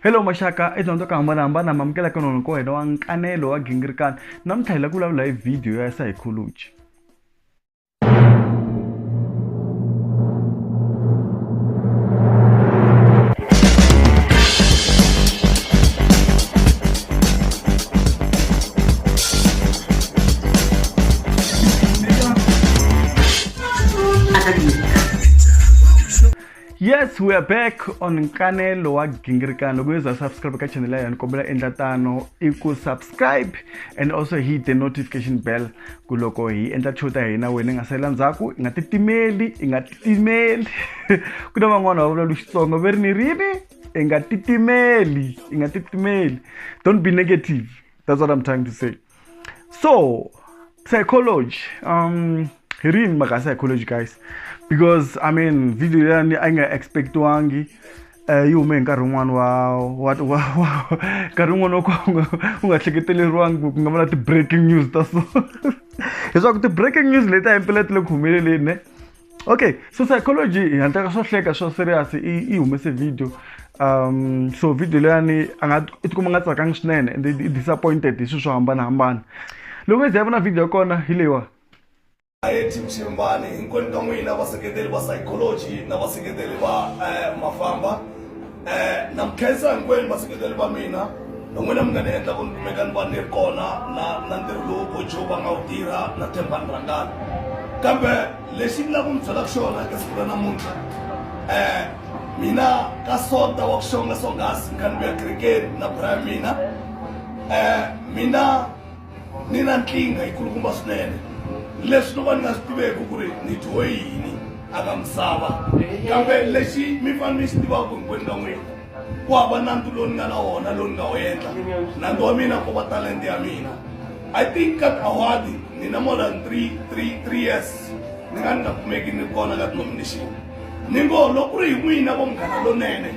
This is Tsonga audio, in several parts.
hello maxaka i dyondzo ka hambanahambana mamukela ka nona ko hela wa nkanelo wa gingirikana namuntlha hi la ku vulavula hi vhidiyo ya psychology yes we are back on nkanelo wa gingirikano loko yo za subscribe ka channel ya hina kombela endla tano i ku subscribe and also hit the notification bell ku loko hi endla show ta hina wena i nga salela ndzhaku i nga titimeli i nga titimeli ku na van'wana va vulalu xitsongo ve ri ni rini i nga titimeli i nga titimeli don't be negative that's what i'm trying to say so psychology um hi rini mhaka psychology guys because i mean video leyani a yi nga expectiwangi um yi hume hi nkarhi wun'wani wa nkarhi wun'wani wa kwanga u nga hleketeleriwangi ku nga va na ti-breaking news ta so leswaku ti-breaking news leti a yi mpela ti le ku humeleleni ne okay so psychology hi handlaka swo hleka swa serious i humese video um so video leyani a nga i tikuma nga tsakangi swinene and i disappointed hi swilo swo hambanahambana loko mi ze ya vona video ya kona hi leyiwa team Shembani hinkwenu ka n'wina vaseketeli va psychology na vaseketeli va eh, mafamba Eh, na mi khensa hinkwenu vaseketeli va mina hi n'wina mi nga ni endla ku ni kumeka ni va ni ri kona na na ntirho lowu bojo va nga wu tirha na thembani rangani kambe lexi ni lava ku mi byelaka xona eka siku ra namuntlha um mina ka sonta wa ku xonga songhasi ni kha ni vuya kerekeni na bura ya mina um mina ni na nkingha yi kulukumba swinene leswi no va ni nga swi tiveki ku ri ni dyiwe yini a ka misava kambe lexi mi fane mi xi tivaka hinkwenu ka n'wina ku hava nandzu lowu ni nga na wona lowu ni nga wu endla nandzu wa mina ku va talente ya mina i think ka awadi ni na more than three three three years ni nga ni nga kumeki ni kona ka denomination ni ngo loko ku ri hi n'wina vo munghana lonene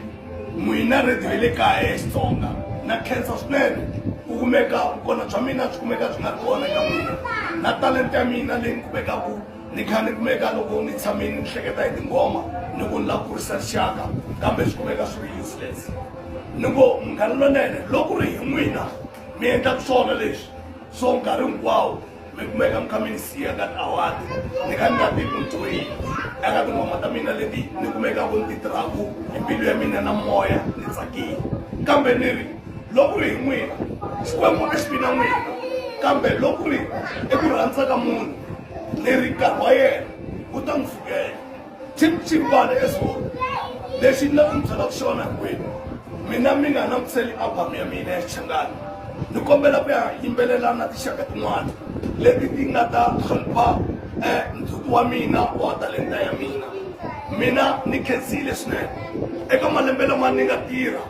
N'wina rhedi ra le kaya ya Xitsonga, na khensa swinene ku kumeka vukona bya mina byi kumeka byi nga ri kona eka n'wina, na talenta ya mina leyi ni kumekaku ni kha ni kumeka loko ni tshame ni hleketa hi tinghoma ni ku ni lava ku kurisa rixaka kambe swi kumeka swi ri useless. Ni ngo Munghana Lonene, loko ku ri hi n'wina mi endlaka swona leswi so nkarhi hinkwawo, Make I'm coming see at that hour. Ni ka nga ti mutwi. Eka tinghoma ta mina leti ni kumeka ku ndzi tirhaku hi mbilu ya mina na moya ni tsakile. Kambe ni ri loko ri hi n'wina Xikwembu a xi vi na n'wina. Kambe loko ri eku rhandza ka munhu ni ri nkarhi wa yena wu ta n'wi fikela. chimchimbana eswona lexi ni lava ku mi byelaka xona hinkwenu mina mi nga langutiseli album ya mina ya xichangani ni kombela ku ya yimbelela na tinxaka tin'wana leti ti nga ta hlonipha um ndzhuti wa mina wa talenta ya mina mina ni khensile swinene eka malembe lama ni nga tirha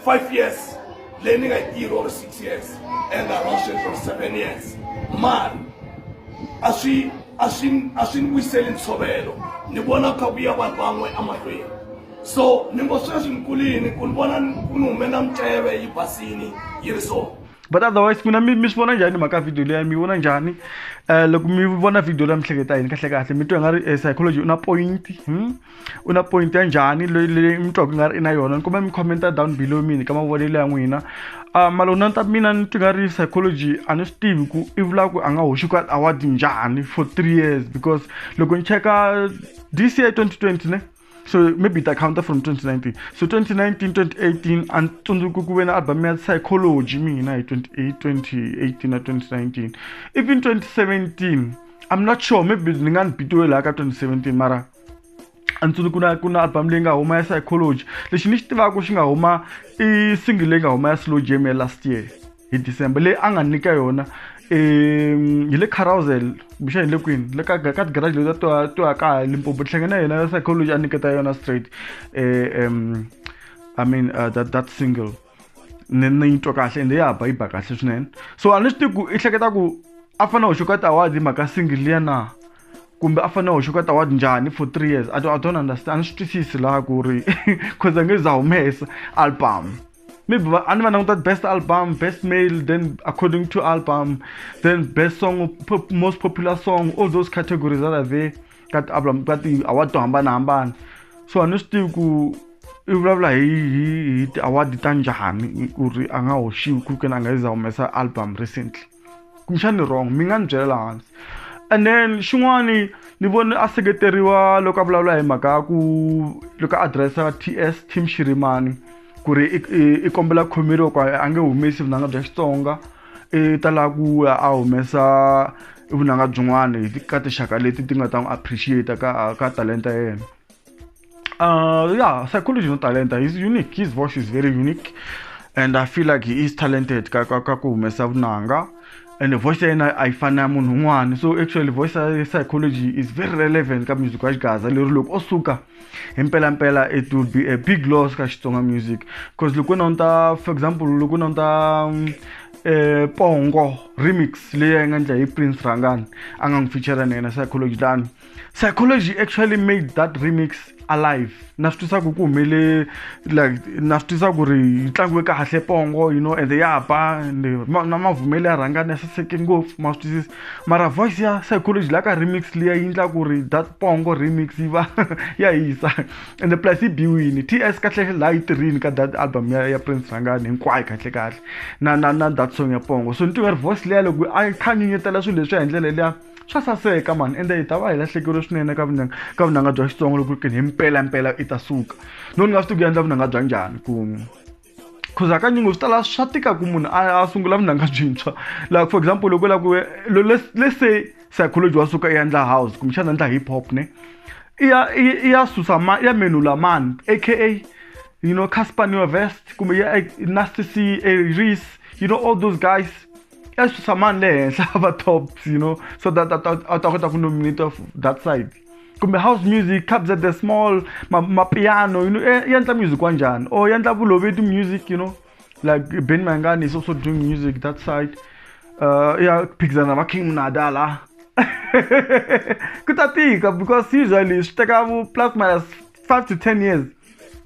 five years learning a year or six years and a Russian for seven years mani a swi a swi a swi ni vuyiseli ntshovelo ni vona ku kha ku ya vanhu van'we emahlweni so ni ngo sweswi ni kulini ku ni vona ku ni humela miceve yi basini yi ri so but otherwise n'wina mi mi swi vona njhani mhaka video leyi mi vona njhani um loko mi vona video leyi mi hleketa yini kahlekahle mi twa hi nga ri psychology u na point hmm? u na point ya njhani leyi mi twaku nga ri i na yona ni kuma mi commenta down below mini ka mavonelo ya n'wina um malona ta mina ni twi nga ri psychology a ni swi tivi ku i vula ku a nga hoxi ka award njhani for three years because loko ni cheka this year 2020 ne so maybe ta counter from 2019 so 2019 2018 a ni tsundzuki ku ve na album ya psychology mina hi 2018 na 2019 even 2017 i'm not sure maybe ni nga ni bitiwe laha ka 2017 mara a ndzi ku na ku na album leyi nga huma ya psychology lexi ni xi tivaka xi nga huma i single leyi nga huma ya slow jam ya last year hi december leyi a nga nyika yona um hi le carousel kumbexana hi le kwini le ka ka tigarage leti to to ya kaya limpopo hlangane na yena ya psychology a nyiketa yona straight um i mean uh, that, that single ni ni yi twa kahle ende ya ba yi ba kahle swinene so a ni swi tivi ku i hleketa ku a fanele a hoxa ka ti-award hi mhaka single liya na kumbe a fanele hoxa ka taward njhani for three years i don't understand a ni swi twisisi laha ku ri cause a nge za humesa album maybe a ni va languta best album best male then according to album then best song pop, most popular song all those categories that are there ka ti-album ka ti-award to hambanahambana so a ni swi tivi ku i vulavula hi hi hi ti-award ta njhani ku ri a nga hoxiwi ku kena a nga yi za humesa album recently kumbexana ni wrong mi nga ni byela laha hansi and then xin'wani ni vone a seketeriwa loko a vulavula hi mhaka ya ku loko a adiresa ts team xirimani ku ri i kombela khomeriwa ku a nge humesi vunanga bya xitsonga i ta lava ku ya a humesa vunanga byin'wana ka tinxaka leti ti nga ta n'wi appreciate ka ka talenta yena Uh, yeah, psychology no talent. He's unique. His voice is very unique, and I feel like he is talented. Kakuhumesa vunanga, and the voice yena a yi fani na ya munhu un'wana. So actually voice ya psychology is very relevant ka music wa Xigaza. Lero loko o suka hi mpela mpela it will be a big loss ka Xitsonga music. Cause loko na unta for example loko na unta um, eh pongo remix leyi a yi nga ndla hi Prince Rangani a nga n'wi feature na yena psychology tani. psychology actually made that remix alive na swi twisa ku ku humele like na swi twisa ku ri yi tlangiwe kahle pongo you know and ya ba na mavumele ya rhanga na saseke ngopfu ma swi twisisa mara voice ya psychology la ka remix liya yi endla ku ri that pongo remix yi va ya hisa and the plus yi biwini ts kahle la yi tirhini ka that album ya, ya prince rhangani hinkwayo kahle kahle na na na that song ya pongo so ni tiva ri voice liya loko a khanyinyetela swilo leswi ya hi ndlela liya swa saseka mani ende hi ta va hi lahlekeriwe swinene ka vunanga ka vunanga bya xitsongo loko ri kini hi mpela mpela i ta suka no ni nga swi tiku endla vunanga bya njhani ku cause hakanyingo swi tala swa tika ku munhu a sungula vunanga byintshwa like for example loko la ku let's say psychology wa suka i endla house kumbexana endla hip hop ne i ya i ya susa ma i ya menula mani aka you know casper neovest kumbe ya nasty c a reese you know all those guys ya swi susa mani le henhla va tops you know so that a ta kota ku nominate of that side kumbe house music cabs at the small mapiano ma you know e, endla music wanjhani or oh, endla vuloveti music you know like ben mangani is also doing music that side uh, ya phikizana va king mnada la ku ta tika because usually swi teka plus minus 5 to 10 years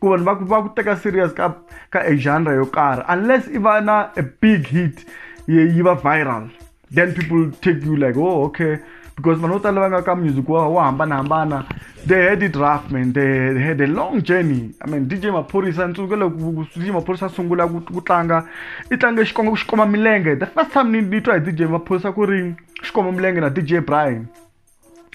ku vanhu va ku va ku teka serious ka ka a genre yo karhi unless i va na a big hit yi va viral then people take you like oh okay because vanhu vo tala va nga ka music wa wo hambanahambana they had it rough man they had a long journey i mean dj maphorisa ntsuke loko dj maphorisa sungula ku, ku tlanga i tlange xikongo ku xikoma milenge the first time ni ni twa hi dj maphorisa ku ri xikoma milenge na dj brian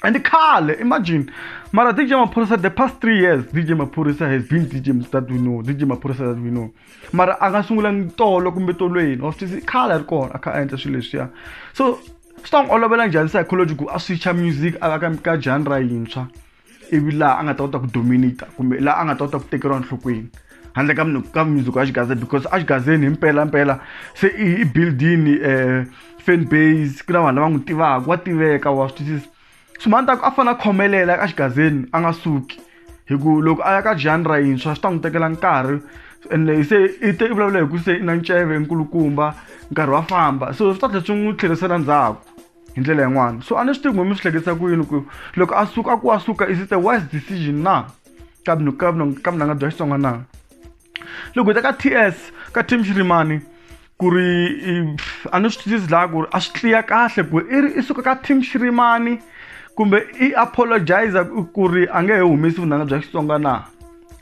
and khale imagine mara dj maphorisa the past three years dj maphorisa has been dj that we know dj maphorisa that we know mara a nga sungulangi tolo kumbe tolweni wa swi tisi khale a ri kona a kha a endla swilo leswiya so swi ta n'wi olovela njhani psychology ku a switcha music a va ka ka genre yintshwa ivi laha a nga ta kota ku dominata kumbe laha a nga ta kota ku tekeriwa nhlokweni handle ka ka music wa xigazeni because a xigazeni hi mpela mpela se i buildini um eh, fan base ku na vanhu lava n'wi tivaka wa tiveka wa swi twisisa swimani ta ku a fanele a khomelela ka xigazeni a nga suki hi ku loko a ya ka genre yintshwa swi ta n'wi tekela nkarhi ende se i te i vulavula hi ku se i na nceve nkulukumba nkarhi wa famba so swi ta tlhela swi n'wi tlherisela ndzhaku hi ndlela yin'wana so a ni swi tivi n'we mi swi hleketisa ku yini ku loko a suka a ku a suka is it a wise decision na ka mina ka mina ka mina nga bya xitsonga na loko hi ta ka ts ka team xirimani ku ri a ni swi twisisi laha ku ri a swi tliya kahle ku i ri i suka ka team xirimani kumbe i apologize ku ri a nge he humesi vunanga bya xitsonga na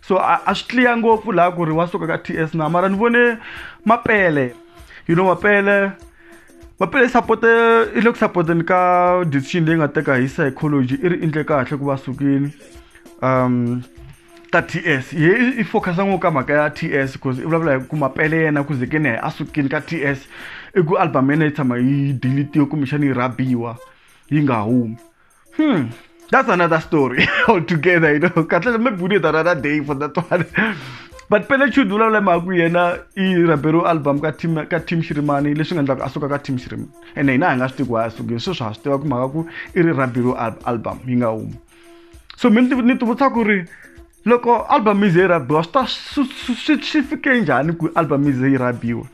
so a swi tliya ngopfu laha ku ri wa suka ka ts na mara ni vone mapele you know mapele va pele support i le ku supporteni ka decision leyi nga teka hi psychology i ri endle kahle ku va sukile um ka ts ye i focusa ngopfu ka mhaka ya ts because i vulavula hi ku mapele yena ku zekeni a sukile ka ts i ku album yena yi tshama yi deletiwe kumbexana yi rhabiwa yi nga humi Hmm. That's another story altogether, you know. Kahle me bune another day for that one. but pele chud vula vula maku yena i rabero album ka team ka team shirimani leswi nga endlaka a suka ka team shirimani ene hina hi nga swi tivi ku a sukile sweswi ha swi tiva ku mhaka ku i ri rabero album yi nga humi so mi ni ti vutisa ku ri loko album yi ze yi rabiwa swi ta swi fike njhani ku album yi ze yi rabiwa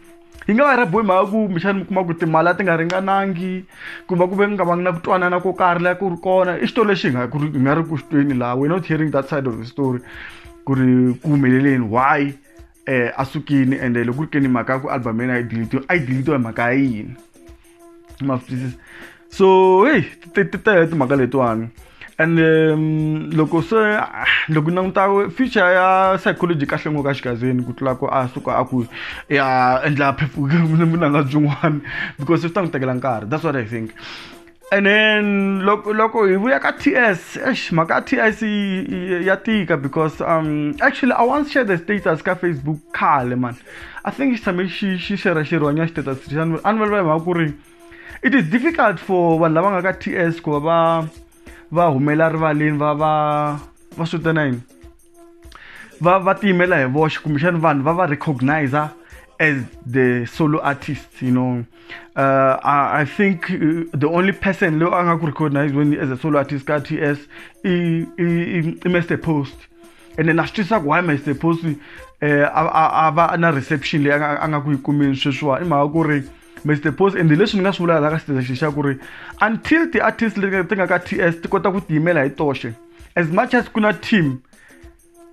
yi nga va rhabiwe mhaka ku kumbexana mi kuma ku timali a ti nga ringanangi ku va ku ve nga vangi na ku twanana ko karhi laha ku ri kona i xitori lexi hi nga ku ri hi nga ri ku xitweni laha we're not hearing that side of the story ku ri ku humeleleni why um a sukini ende loko ku ri ke ni mhaka ya ku album ya yena a yi dilitiwe a yi dilitiwe hi mhaka ya yini ma swi twisisa so heyi ti tele timhaka letiwani and um, loko se ah, loko u languta future ya psychology kahle ngo ka xigazini ku tlula ku a suka a ku ya endla vunanga byin'wana because swi ta n'wi tekela nkarhi that's what i think and then loko loko hi vuya ka ts esh mhaka ya ts ya tika because um actually i once share the status ka facebook khale mani i think xi tshame xi xi xera xirhwanya xi teta sri a ni vulavula hi mhaka ku ri it is difficult for vanhu lava nga ka ts ku va va va humela rivaleni va va va swi vitana yini va va tiyimela hi voxe kumbexani vanhu va va recognize as the solo artist you know uh, I, I think uh, the only person leyi a nga ku recognize weni as a solo artist ka ts i i i mr post ene na swi twisaka why am i supposed to eh, a va na reception leyi a nga ku yi kumeni sweswiwa i mhaka ku ri mr pos ende leswi ni nga swi vulaka la ka station xa ku ri until ti-artist leti ti nga ka ts ti kota ku tiyimela hi toxe as much as ku na team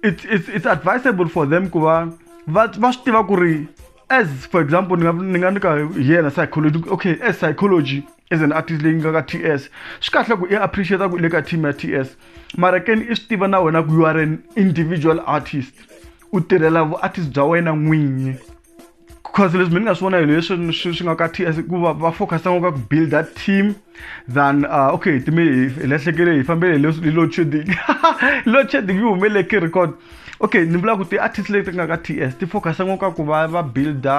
it's, it's, it's advisable for them ku va va swi tiva ku ri as for example ni nga nyika yena psychology okay as psychology as an artist leyi nga ka ts swi kahle ku i appreciate ku i le ka team ya ts mara keni i swi tiva na wena ku you are an individual artist u tirhela vuartist bya wena n'winyi because leswi mi ni nga swi vona hi leswi swi nga ka ts ku va va focus ngopfu ka ku build that team than uh, okay time hi lahlekele hi fambele hi load shedding load shedding yi humele ki record okay ni vula ku ti-artist leti nga ka ts ti focus ngopfu ka ku va va builda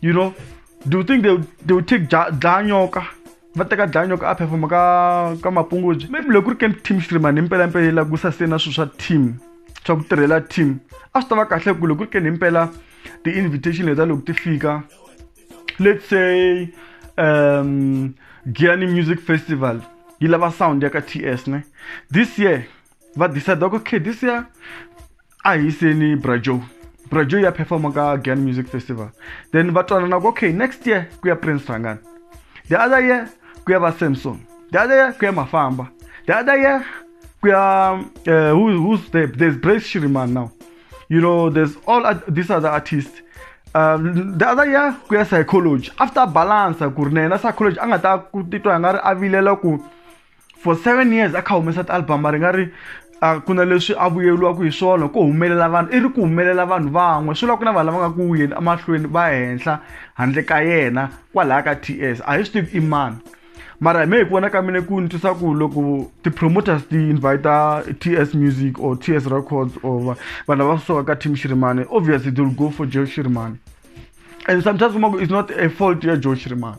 you know do you think they, they will take dlanyoka va teka dlanyoka a performa ka ka mapungudzi maybe loko ku ri camp team streamani impela impela yi lagusa se na swilo swa team swa ku tirhela team a swi ta va kahle ku loko ku ri keni impela ti-invitation leta loko ti fika let's say um giani music festival yi lava sound ya ka t s ne this year va decide okay this year a hi yiseni brajo brajo ya performa ka gan music festival then va twanana ku okay next year ku ya prince rangani the other year ku ya va samson the other year ku ya mafamba the other year ku ya uh, who, who's there there's brace shiriman now you know there's all uh, these other artists um, the other year ku ya psychology after balance ku ri na yena psychology a nga ta ku titwa nga ri a vilela ku for seven years a kha humesa ti-album a ri nga ri a ku na leswi a vuyeriwaka hi swona ko humelela vanhu i ri ku humelela vanhu van'we swi la ku na vanhu lava nga ku yeni emahlweni va henhla handle ka yena kwalaya ka t s a hi swi tivi i mani mara me hi ku vona ka mina ku ni twisa ku loko ti-promoters ti invite t s music or t s records or vanhu lava suka ka team shirimane obviously they will go for joe shirimane and sometimes kuma ku is not a fault ya joe shirimane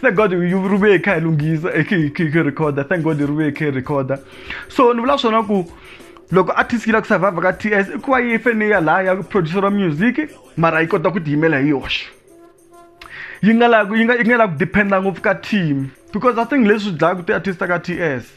thank god yu ri vuye kha hi lunghisa khe recorda thank god ri vuye khe recorda so ni vula swona ku loko artist yi lava ku survive ka t s i ku va yi fene ya laha ya producer wa music mara yi kota ku tiyimela hi yoxe yi nga lavi yi nga yi nga lavi ku depend-a ngopfu ka team because i think leswi dlayaka ti-artist ta ka t s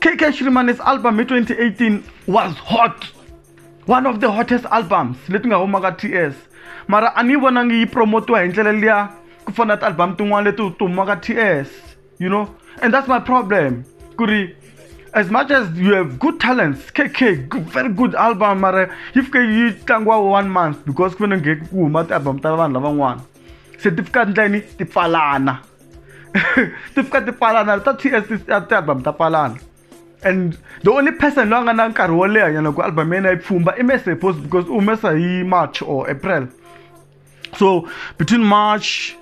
KK Shrimane's album hi 2018 was hot one of the hottest albums leti nga huma ka TS mara a ni vonangi yi promotiwa hi ndlela liya ku fana ti-album tin'wana leti ti huma ka TS you know and that's my problem ku ri as much as you have good talents KK good, very good album mara yi fike yi tlangiwa one month because ku fanele ku huma ti-album ta vanhu lavan'wana se ti fika ndleni ti pfalana ti fika ti pfalana ta ts ti-album ta pfalana and the only person loyi a nga na nkarhi wo leha nyana ku album ya yena yi pfumba i mese post because u humesa hi march or april so between march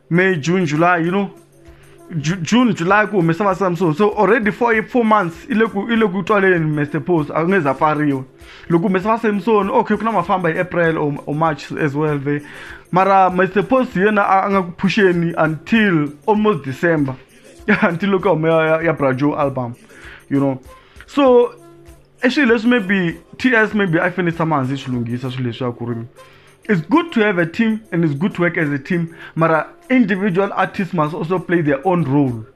may june july you know june july ku humesa va samsung so already for four months i le ku i le ku twaleni mese post a ku nge za pfariwa loko humesa va samson okay ku na mafamba hi april or, or march as well there mara my supposed yena a nga ku phusheni until almost december until loko huma ya, ya brajo album you know so i swilo leswi maybe ts maybe i fanele tshama hansi swi lunghisa swilo leswi ya ku ri it's good to have a team and it's good to work as a team mara individual artists must also play their own role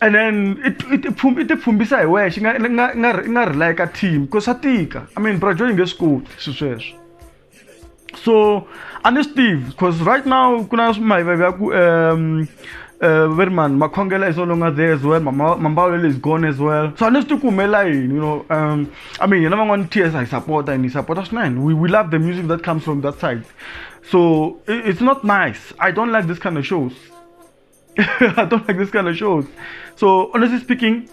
and then i tipfumbisa hi wexe nga nga nga nga rely ka team because swa tika i mean bro joy nge swi koti swi sweswo so a ni swi tivi because right now ku na mayivavi ya ku um uh, very man makhongela is no longer there as well mambawulelo is gone as well so a ni swi tivi ku humelela yini you know um i mean hina van'wana ts hi sapota and hi sapota swinene we, we love the music that comes from that side so it's not nice i don't like this kind of shows I don't like this kind of shows. So honestly speaking,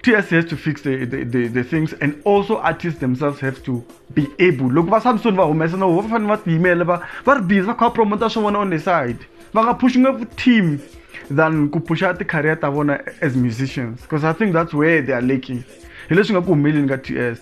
TSC has to fix the, the, the, the things and also artists themselves have to be able. Look, va Samson va humesa no va fanele va tiyimela va va ri busy va kha promoter swa vona on the side. Va nga push ngopfu team than ku pusha ti career ta vona as musicians because I think that's where they are lacking. Hi leswi nga ku humeleni ka TS.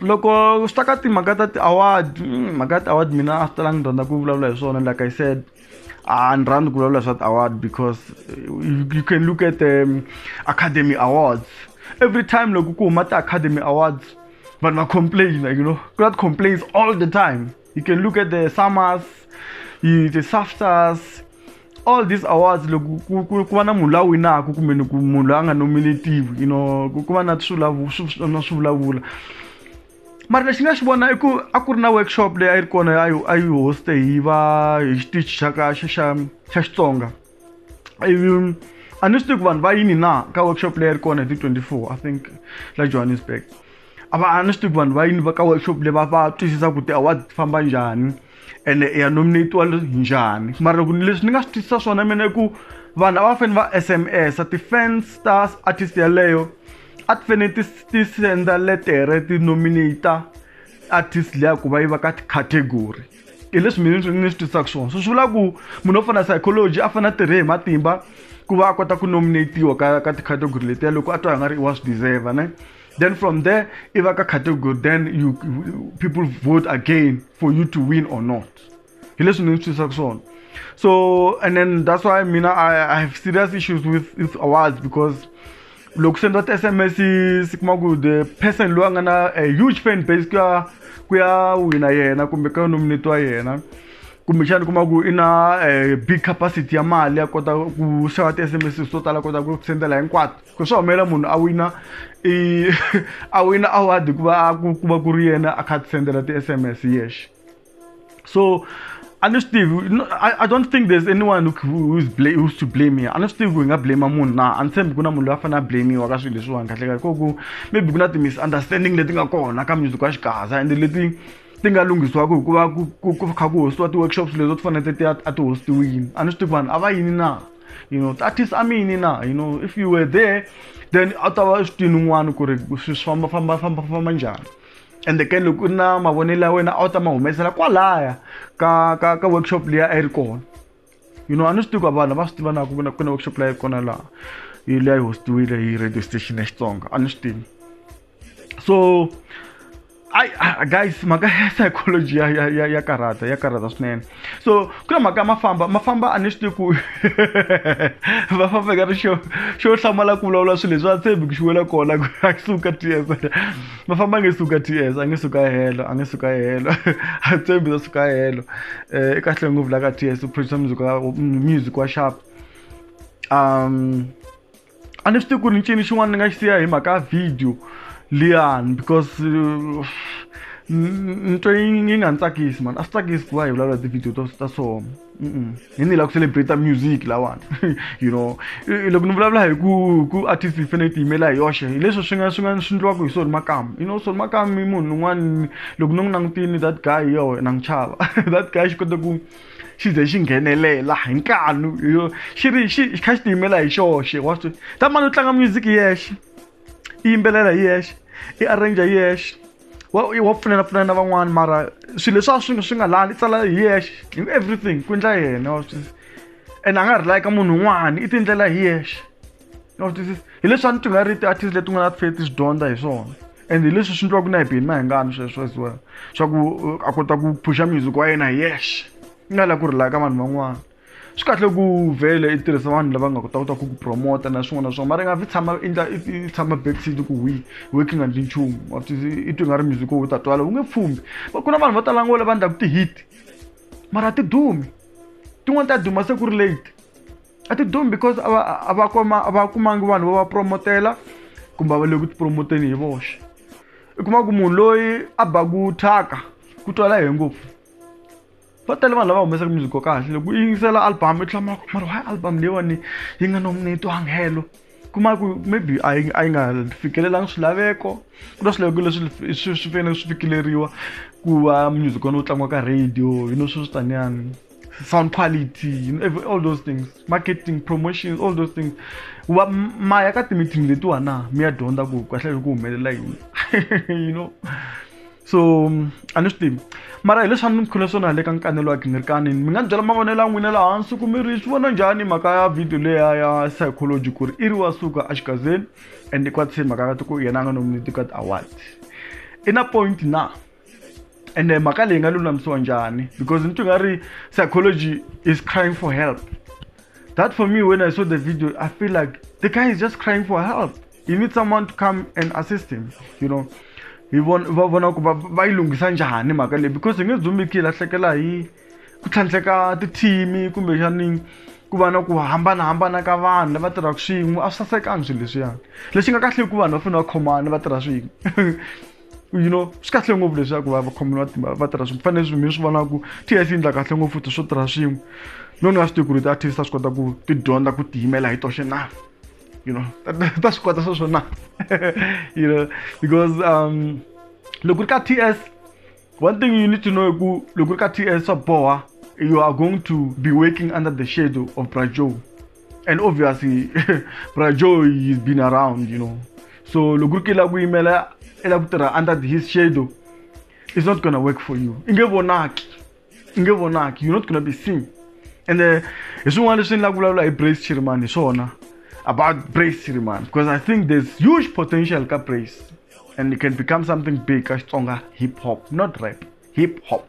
loko swi ta ka timhaka ta ti-award hmm, mhaka ya ti-award mina a swi talanga ni rhandza ku vulavula hi swona like i said a ni rhandzi ku vulavula hi swa ti-award because you can look at the um, academy awards every time loko ku huma ti-academy awards vanhu va complaina you know ku na ti-complains all the time you can look at the summers the saftas all these awards loko ku va na munhu la winaka kumbe ni ku munhu la a nga nominativi you know ku va na na swivulavula mara lexi nga xi vona i ku a ku ri na workshop leyi a yi ri kona a yi a yi hoste hi va hi xitichi xa ka xa xa xa xitsonga um, a ni swi tivi ku vanhu va yini na ka workshop leyi ri kona hi ti 24 i think la johannesburg a va a ni swi tivi ku vanhu va yini va ka workshop leyi va va twisisa ku ti-award ti famba njhani ene ya nominatiwa njhani mara loko leswi ni nga swi twisisa swona mina i ku vanhu a va fanele va sms a ti-fans ta artist yeleyo a ti fanele ti ti senda letere ti nominata artist leya ku va yi va ka category hi leswi mina ni ni swi twisaka swona so swi vula ku munhu wo fana psychology a fanele a tirhe hi matimba ku va a kota ku nominatiwa ka ka ticategory letiya loko a twa hi nga ri wa swi deserve ne then from there i va ka category then you people vote again for you to win or not hi leswi ni ni swi twisaka swona so and then that's why mina I, I have serious issues with, with awards because loko swi endla ti-sms si kuma ku the person loyi a nga na a huge fan base ku ya ku ya wina yena kumbe ka nominate wa yena kumbexana kuma ku i na eh, big capacity ya mali ya kota ku xava ti-sms to tala kota ku sendela hinkwato ku swa humelela munhu a wina i a wina award hikuva a ku va ku ri yena a kha a ti sendela ti-sms yexe So I don't think I, I don't think there's anyone who is blame who's to blame here. I don't think we nga blame munhu na and same kuna munhu loyi a fanele a blamiwa ka swilo leswiwani kahle kahle koku maybe ku na ti-misunderstanding leti nga kona ka music wa xikaza ende leti ti nga lunghisiwaka hikuva ku ku kha ku hostiwa ti-workshops lezo ti fanele ti a ti hostiwini a ni swi tivi vanhu a va yini na you know ti-artist a mi yini na you know if you were there then a ta va swi tini un'wana ku ri swi famba famba famba famba njhani ende ke loko u ri na mavonelo ya wena a wu ta ma humesela kwalaya ka ka ka workshop leyi a yi ri kona you know a ni swi tivi ku vanhu va swi tiva na ku vona ku na workshop leyi kona laha yi leyi hostiwile hi radio station ya xitsonga a ni swi tivi so ai guys mhaka ya psychology ya ya ya ya karhata ya karhata swinene so ku na mhaka ya mafamba mafamba a ni swi tivi ku va famba ka ri xo xo hlamala ku vulavula swilo leswi va tshembi ku xiwela kona ku a suka ts mafamba a nge suka ts a nge suka helo a nge suka helo a tshembi ta suka helo um i kahle ngopfu la ka ts u producer music wa music wa sharp um a ni swi tivi ku ri ncini xin'wana ni nga xi siya hi mhaka ya video liyani because uh, ni twe yi nga ni tsakisi mani a swi tsakisi ku va hi vulavula ti-video to ta so hi ni lava ku celebrate music lawani you know loko ni vulavula hi ku ku artist yi fanele ti yimela hi yoxe hi leswi swi nga swi nga swi ndliwaka hi soni makamu you know soni makamu i munhu un'wana loko ni n'wi langutini that guy yo na n'wi chava that guy xi kota ku xi ze xi nghenelela hi nkanu xi ri xi kha xi tiyimela hi xoxe wa swi ta mani u tlanga music hi yexe i yimbelela hi yexe i arranger hi yexe wa wa pfunela pfunela na van'wani mara swilo leswi a swi swi nga lani i tsala hi yexe everything ku endla yena wa swi ene a nga rely ka munhu un'wana i tiendlela hi yexe. no this is hi leswi a ni ti nga ri ti-artist leti nga na faith swi dyondza hi swona and hi leswi swi ndliwaka na hi bini na hi ngani sweswo as well swa ku uh, a kota ku phusha music wa yena hi yexe i nga la ku rilaka vanhu van'wana swi kahle ku vhele i tirhisa vanhu lava nga kota kota ku ku promota na swin'wana na swin'wana mara i nga vi tshama endla i tshama backseat ku wi working and nchumu i twi nga ri music wo u ta twala u nge pfumbi ku na vanhu vo tala ngo lava ndlaku ti-hit mara ti dumi tin'wana ta duma se ku ri late a ti dumi because a va a va kuma a va kumangi vanhu va va promotela kumbe a va le ku tipromoteni hi voxe i kuma ku munhu loyi a baku thyaka ku twala he ngopfu va tele vanhu lava humesaka music ko kahle loko u yingisela album i tlhela mara mara why album leyiwani yi nga nominate wanghelo kuma ku maybe a yi a yi nga fikelelanga swilaveko ku na swilaveko leswi swi swi fanele swi fikeleriwa ku va music wani wu tlangiwa ka radio yi no swi swi taniyani sound quality you know, all those things marketing promotions all those things wa ma ya ka ti-meeting letiwa na mi ya dyondza ku kahle ku humelela yini you know so a ni swi tivi mara hi leswi a ni mi khule swona le ka nkanelo wa gingirikani mi nga ni byela mavonelo ya n'wina laha hansi ku mi ri swi vona njhani mhaka ya video leya ya psychology ku ri i ri wa suka exigazeni and i kwatise mhaka ka ti ku yena a nga nominate ka ti-award i na point na ende mhaka leyi nga lulamisiwa njhani because ni twi nga ri psychology is crying for help that for me when i saw the video i feel like the guy is just crying for help he needs someone to come and assist him you know hi vona va vona ku va va yi lunghisa njhani mhaka leyi because hi nge dzumiki hi lahlekela hi ku tlhantlheka tithimi kumbexani ku va na ku hambanahambana ka vanhu lava tirhaka swin'we a swi sasekanga swilo leswiyani lexi nga kahle i ku vanhu va fanele va khomana va tirha swin'we you know swi kahle ngopfu leswaku va vakhomi va timba va tirha swin'we fanele swinhu swi vona ku t f yi endla kahle ngopfu futhi swo tirha swin'we no ni nga swi tivi ku ri ti-artist ta swi kota ku ti dyondza ku tiyimela hi toxe na you know ta swi kota swa swona you know because um loko ri ka t s one thing you need to know i ku loko ri ka t s swa boha you are going to be working under the shadow of brajoe and obviously Brajo he's been around you know so loko ku ri ku yimela i lava ku tirha under his shadow it's not gonna work for you i nge vonaki i nge vonaki you're not gonna be seen and uh, hi swin'wana leswi ni lava ku vulavula hi brace chirimani hi swona about brace chirimani because i think there's huge potential ka brace and it can become something big ka xitsonga hip hop not rap hip hop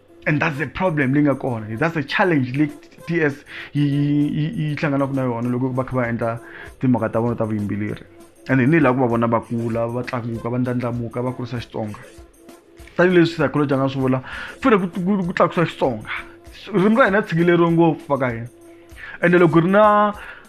and that's the problem leyi nga kona that's the challenge leyi t s yi hlanganaka na yona loko va kha va endla timhaka ta vona ta vuyimbeleri and hi ni laha ku va vona va kula va tlakuka va ndlandlamuka va kurisa xitsonga tanihileswi psychology a nga swi vula fune ku tlakusa xitsonga ririmi ra hina tshikileriwe ngopfu va ka hina ende loko ri na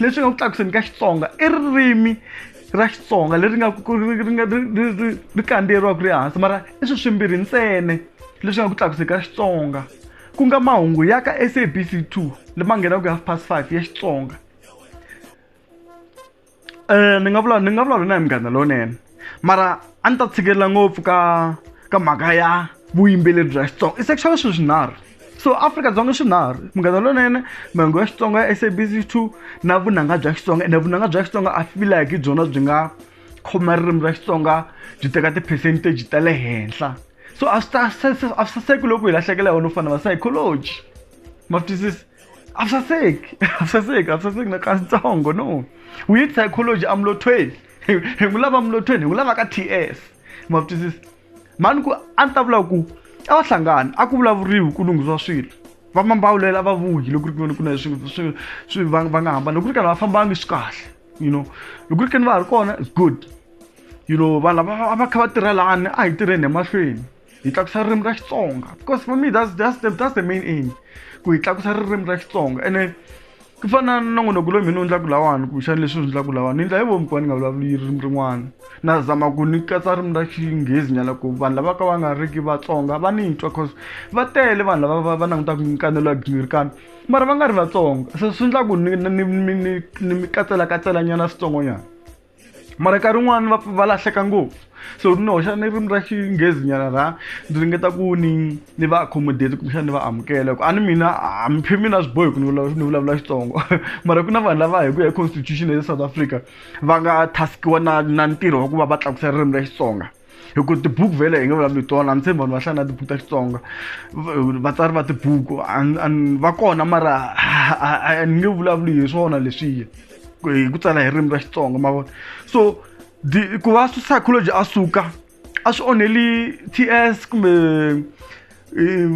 leswi nga ku tlakuseni ka xitsonga i ririmi ra xitsonga leri nga ri kandziyeriwaka ri hansi mara i swi swimbirhi ntsene leswi nga ku tlakuseni ka xitsonga ku nga mahungu ya ka sabc 2 lama nghenaka half past five ya xitsonga um ni nga vula ni nga vulavula na hi munghana lowunene mara a ni ta tshikelela ngopfu ka ka mhaka ya vuyimbeleri bya xitsonga i sexual swilo swinharhu so afrika-dzonga swinharhu munghana lonene mahungu ya xitsonga ya sabc two na vunanga bya xitsonga ene vunanga bya xitsonga a fila hi byona byi nga khoma ririmi ra xitsonga byi teka ti-percentage ta le henhla so a swi ta a swi saseki loko hi lahlekela hi wona u fanele va psychology ma swi twisisi a swi saseki a swi saseki a swi saseki na kantsongo no we need psychology amlothweni hi hi n'wi lava mulothweni hi n'wi lava ka ts ma swi twisisa mhani ku a ni ta vula ku a va hlangani a ku vulavuriwi ku lunghisiwa swilo va mambawulela a va vuyi loko ri kuni ku na swi swi swi va va nga hambani loko ri karhi va fambangi swi kahle you know loko ri kani va ha ri kona is good you know vanhu lava a va kha va tirha lani a hi tirheni emahlweni hi tlakusa ririmi ra xitsonga because for me that's, that's, the, that's the main aim ku hi tlakusa ririmi ra xitsonga ene ku fana na nongonoko loyi mina u endlaka lawani kumbexana leswi u endlaka lawani ni endla hi vomi ku va ni nga vulavuli ririmi rin'wana na zama ku ni katsa ririmi ra xinghezi nyana ku vanhu lava ka va nga riki vatsonga va ni twa cause va tele vanhu lava va langutaka nkanelo ya gingirikana mara va nga ri vatsonga se swi endla ku ni mi katselakatsela nyana switsongonyana mara nkarhi wun'wani va va lahleka ngopfu so ni hoxa ni ririmi ra xinghezi nyana ra ndzi ringeta ku ni ni va accommodate kumbexana ni va amukela ku a ni mina a mi phe mina swi bohi ku ni vulavula ni vulavula xitsongo mara ku na vanhu lava hi ku ya constitution ya south africa va nga task-iwa na na ntirho wa ku va va tlakusa ririmi ra xitsonga hikuva tibuku vhele hi nge vulavuli tona ni tshembi vanhu va hlaya na tibuku ta xitsonga vatsari va tibuku va kona mara ni nge vulavuli hi swona leswiya hi ku tsala hi ririmi ra xitsonga ma vona so ku va psychology a suka a swi onheli ts kumbe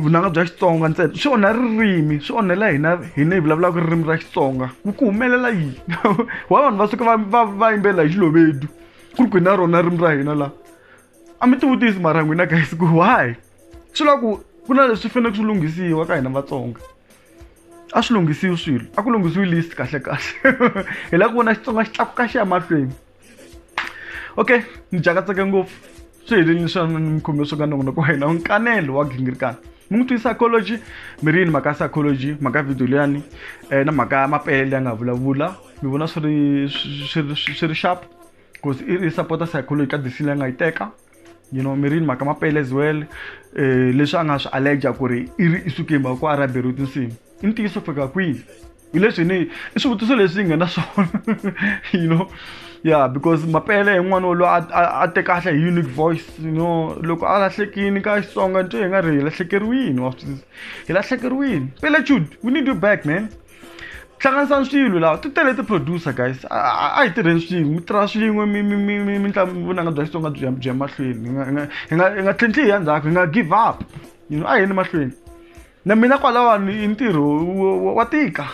vunanga bya xitsonga ntsena swi onha ririmi swi onhela hina hina hi vulavulaka ririmi ra xitsonga ku ku humelela yini wa vanhu va suka va va va yimbelela hi xilovedu ku ri ku na rona ririmi ra hina laha a mi tivutisi mara n'wina guys ku why swi lava ku ku na leswi faneleke swi lunghisiwa ka hina vatsonga a swi lunghisiwi swilo a ku lunghisiwi list kahle kahle hi lava ku vona xitsonga xi tlakuka xi ya mahlweni okay ni jakatseke ngopfu swi helelini swa mikhume swo ka nongonoko wa hina nkanelo wa gingirikana mi n'wi twi psychology mi ri yini mhaka psychology mhaka video leyani um na mhaka ya mapele ya nga vulavula mi vona swi ri swi ri sharp because i ri support-a psychology ka disini leyi nga yi teka you know mi ri yini mhaka mapele as well um leswi a nga swi allerger ku ri i ri i sukeni mhaka ku a ri a beriwe tinsimu i ntiyiso fika kwihi hi leswi ni i swivutiso leswi hi nga na swona you know yeah because mapele hi n'wana wolowo a te kahle hi unique voice you know loko a lahlekini ka xitsonga nto hi nga ri hi lahlekeriwini wa swisisa hi lahlekeriwini pele jude we need you back man hlanganisani swilo lawa ti tele ti-producer guys a hi tirheni swin'we mi tirha swin'we vunanga bya xitsonga byi byi ya mahlweni hi nga hi nga tlhintlhi hi ya ndzhaku hi nga give up you know a hi yeni mahlweni na mina kwalawani i ntirho wa tika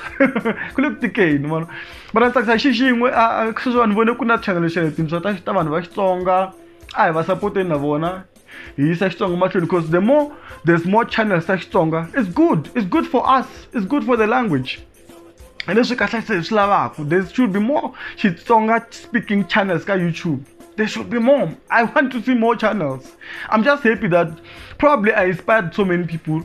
ku le ku tikeni vona vana ni tsakisa hi xi xin'we sweswiwa ni vone ku na chanele xa tintswa ta ta vanhu va xitsonga a hi va sapoteni na vona hi yisa xitsonga mahlweni because the more there's more channels ta xitsonga is good is good for us is good for the language hi leswi kahle se hi swi lavaka there should be more xitsonga speaking channels ka youtube there should be more i want to see more channels i'm just happy that probably i inspired so many people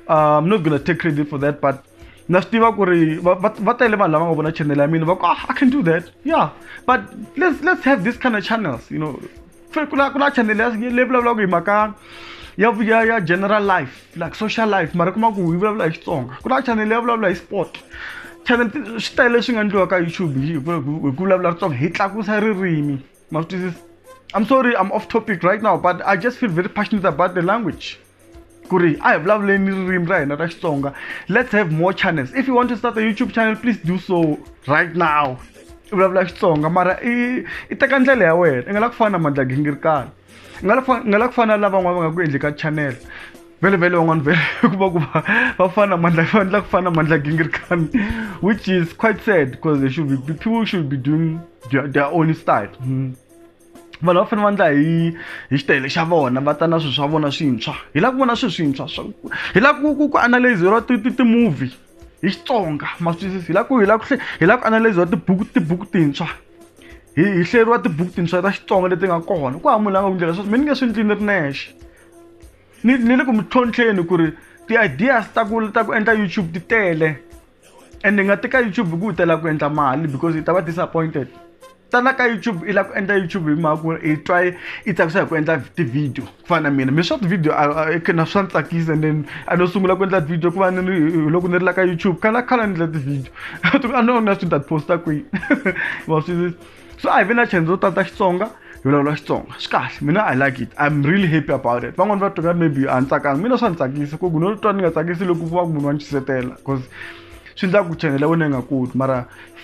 uh, i'm not gonna take credit for that but na swi tiva ku ri va tele vanhu lava nga vona channel ya mina va ku ah, i can do that yeah but let's let's have this kind of channels you know fe ku na ku na channel leyi vulavulaka hi mhaka ya ya ya general life like social life mara kuma ku yi vulavula hi xitsonga ku na channel leyi vulavula hi sport channel swi tele leswi nga endliwa ka youtube hi ku vulavula ritsonga hi tlakusa ririmi ma swi twisisa i'm sorry i'm off topic right now but i just feel very passionate about the language ku ri a hi vulavuleni ririmi ra hina ra xitsonga let's have more channels if you want to start a youtube channel please do so right now i vulavula xitsonga mara i i teka ndlela ya wena i nga la ku fana na mandla gingirikana i nga la i nga la ku fana na lavan'wana va nga ku endli ka channel vele vele van'wana vele ku va ku va va fana mandla va endla ku fana mandla gingirikana which is quite sad because they should be people should be doing their, their own style mm. vanhu va fanele va endla hi hi xitayele xa vona va ta na swilo swa vona swintshwa hi lava ku vona swilo swintshwa swa hi lava ku ku ku analyze ra ti ti ti-movie hi xitsonga ma swi twisisi hi lava ku hi lava ku hi lava ku analyze ra tibuku tibuku tintshwa hi hi hleriwa tibuku tintshwa ta xitsonga leti nga kona ku hava munhu la nga ku ndlela sweswo mi ni nge swi endli ni ri nexe ni ni le ku mi tlhontlheni ku ri ti-ideas ta ku ta ku endla YouTube ti tele. and nga teka youtube ku u tela ku endla mali because i ta va disappointed tala ka youtube i lava ku endla youtube hi mhaka ku i twa i tsakisa hi ku endla tivhidiyo ku fana na mina mi swa tivhidiyo na swa ni tsakisa and then a no sungula ku endla tivhidiyo ku va ni ri loko ni ri la ka youtube khala khala ni endla tivhidiyo a no na swi ni ta ti posta kwihi wa swi so a hi vi na chance to tata xitsonga hi vulavula xitsonga swi kahle mina i like it i'm really happy about it van'wani va twa maybe a ni tsakanga mina swa ni tsakisa ku ku no twa ni nga tsakisi loko va ku munhu wa ni xisetela because swi endla ku chanela wena yi nga koti mara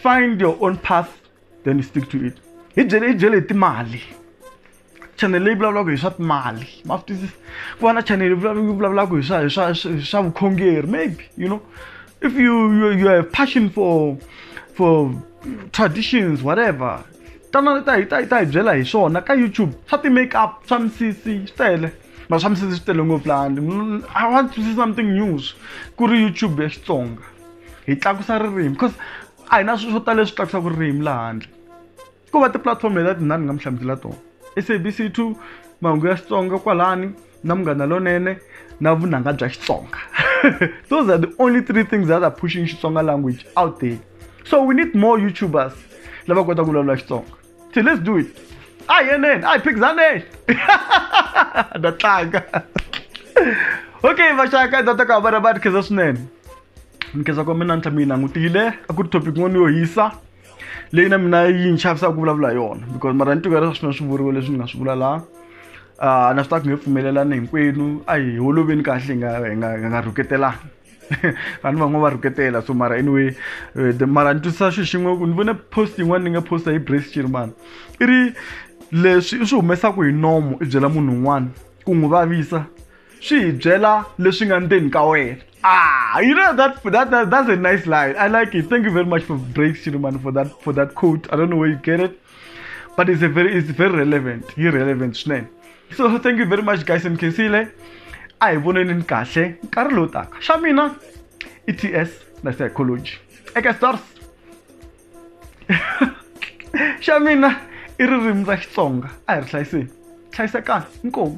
find your own path then stick to it hi byele hi byele hi timali chanele leyi vulavulaka hi swa timali ma swi twisisa ku va na chanele yi vulavulaka hi swa hi swa hi swa vukhongeri maybe you know if you you, you have passion for for traditions whatever tana ta hi ta hi ta hi byela hi swona ka youtube swa ti-make up swa misisi swi tele ma swa misisi swi tele ngopfu lani i want to see something news ku ri youtube ya xitsonga hi tlakusa ririmi because a hi na swi swo tala leswi tlakusaka ririmi laha handle ko va tipulatifomo leti ndzi nga mi hlamusela tona sabc two mahungu ya xitsonga kwalani na munghana lonene na vunanga bya xitsonga those are the only three things that are pushing xitsonga language out there so we need more youtubers lava kota ku vulavula xitsonga so let's do it a hi yeneni a hi phikizaneni na tlanga okay vaxaka data ka vana va ni khensa swinene ni khensa ko mina ntlha mi yi langutile a ku ri topic n'wana yo hisa leyi na mina yi ni chavisaka ku vulavula yona because mara ni tivela swa swi vuriwe leswi ni nga swi vula laha uh, na swi ta ku nge pfumelelani hinkwenu a hi holoveni kahle hi nga hi nga hi nga rhuketelani vanhu van'we va rhuketela so mara anyway eh, the- mara ni twisisa xi xin'we ku ni vone post yin'wana ni nga posta hi brace chirimana i ri leswi i swi humesaka hi nomo i byela munhu un'wana ku n'wi vavisa swi hi byela leswi nga ndzeni ka wena ah you know that that, that that's a nice line i like it thank you very much for breaks chilumani for that for that quote i don't know where you get it but it's a very it's very relevant yi relevant swinene so thank you very much guys and khensile a hi voneni ni kahle nkarhi lowu taka xa mina i t s na psychology eka stars xa mina i ririmi ra xitsonga a hi ri hlayiseni hlayisekani inkomu